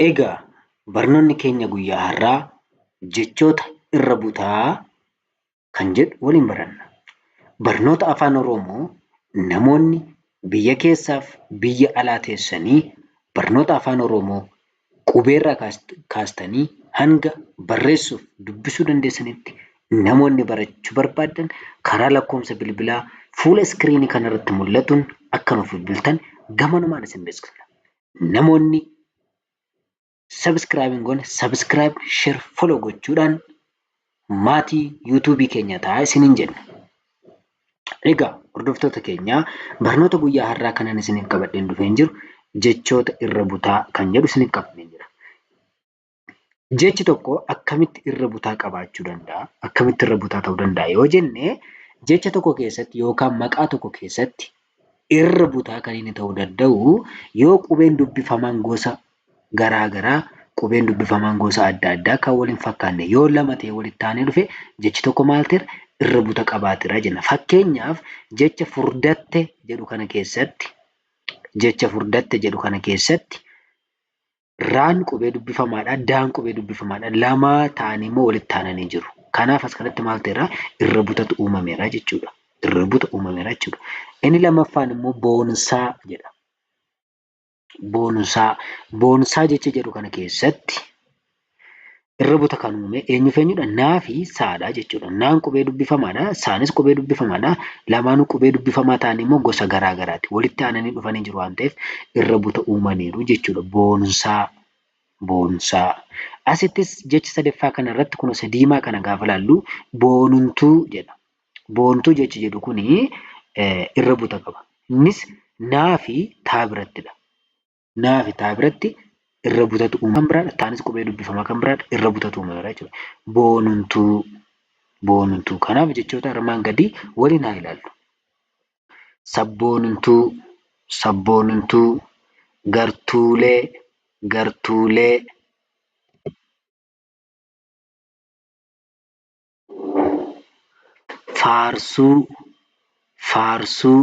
Egaa barnoonni keenya guyyaa har'aa jechoota irra butaa kan jedhu waliin baranna. Barnoota Afaan Oromoo namoonni biyya keessaaf biyya alaa teessanii barnoota Afaan Oromoo qubeerraa kaastanii hanga barreessuuf dubbisuu dandeessanitti namoonni barachuu barbaaddan karaa lakkoofsa bilbilaa fuula iskiriinii kanarratti mul'atuun akka nuuf bilbiltan gamanumaan isin beeksifna. Namoonni subscribe hin goone subscribe, share, follow gochuudhaan maatii YouTube keenya ta'a isiniin jenna. Egaa hordoftoota keenyaa barnoota guyyaa har'aa kanan isiniif qabadheen dhufeen jiru jechoota irra butaa kan jedhu isiniif qabadheen jira. jechi tokko akkamitti irra butaa qabaachuu danda'a? Akkamitti irra butaa ta'uu danda'a yoo jenne jecha tokko keessatti yookaan maqaa tokko keessatti irra butaa kan inni ta'uu danda'u yoo qubeen dubbifamaan gosa garaa garaa qubeen dubbifamaan gosa adda addaa kan wal hin fakkaanne yoo lama ta'e walitti aanee dhufe jechi tokko maal ta'eera irra buta qabaatera jenna. Fakkeenyaaf jecha furdatte jedhu kana keessatti jecha furdatte jedhu kana keessatti Raan qubee dubbifamaadha. Daan qubee dubbifamaadha. Lama ta'anii immoo walitti aananii jiru. Kanaaf as kanatti maal ta'eera? Irra butatu uumameera jechuudha. Irra buta uumameera jechuudha. Inni lammaffaan immoo boonsaa jedha. Boonsaa. Boonsaa jecha jedhu kana keessatti irra buta kan uume eenyuuf eenyudha? Naa fi saadha jechuudha. Naan qubee dubbifamaadha. Saanis qubee dubbifamaadha. Lamaanuu qubee dubbifamaa ta'anii immoo gosa garaa garaati. Walitti aananii dhufanii jiru waan ta'eef irra buta uumaniiru jechuudha. Boonsaa, boonsaa. Asittis jecha sadaffaa kana irratti kun isa diimaa kana gaafa ilaallu boonuntuu jedha. Boontuu jechi jedhu kun irra buta qaba. Innis naa fi taa birattidha. naa fi taa biratti irra butatu uumama kan biraadha. Taanis qubee dubbifamaa kan biraadha. Irra butatu uumameera jechuudha. Boonuntuu. Boonuntuu. Kanaaf jechoota armaan gadii waliin haa ilaallu. Sabboonuntuu. Sabboonuntuu. Gartuulee. Gartuulee. Faarsuu. Faarsuu.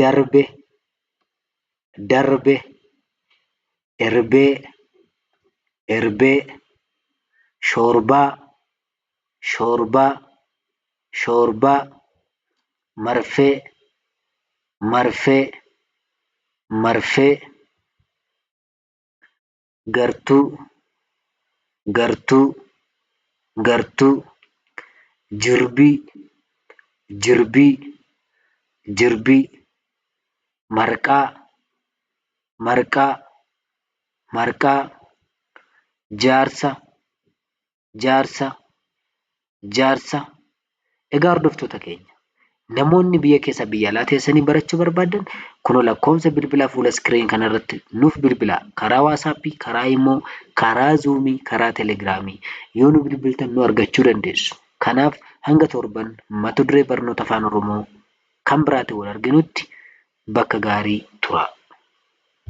darbe darbe erbee erbee shoorbaa shoorbaa shoorbaa marfee marfee marfee gartuu gartuu gartuu jirbii jirbii jirbii marqaa marqaa marqaa jaarsa jaarsa, jaarsa. Egaa hordoftoota keenya namoonni biyya keessaa biyya alaa teessanii barachuu barbaaddan kunoo lakkoofsa bilbilaa fuula iskiriin kanarratti nuuf bilbilaa karaa waasaappii, karaa imoo, karaa zuumii, karaa telegiraamii yoo nu bilbiltan nu argachuu dandeessu. Kanaaf hanga torban mata duree barnoota afaan oromoo kan biraatiin wal arginutti bakka gaarii turaa.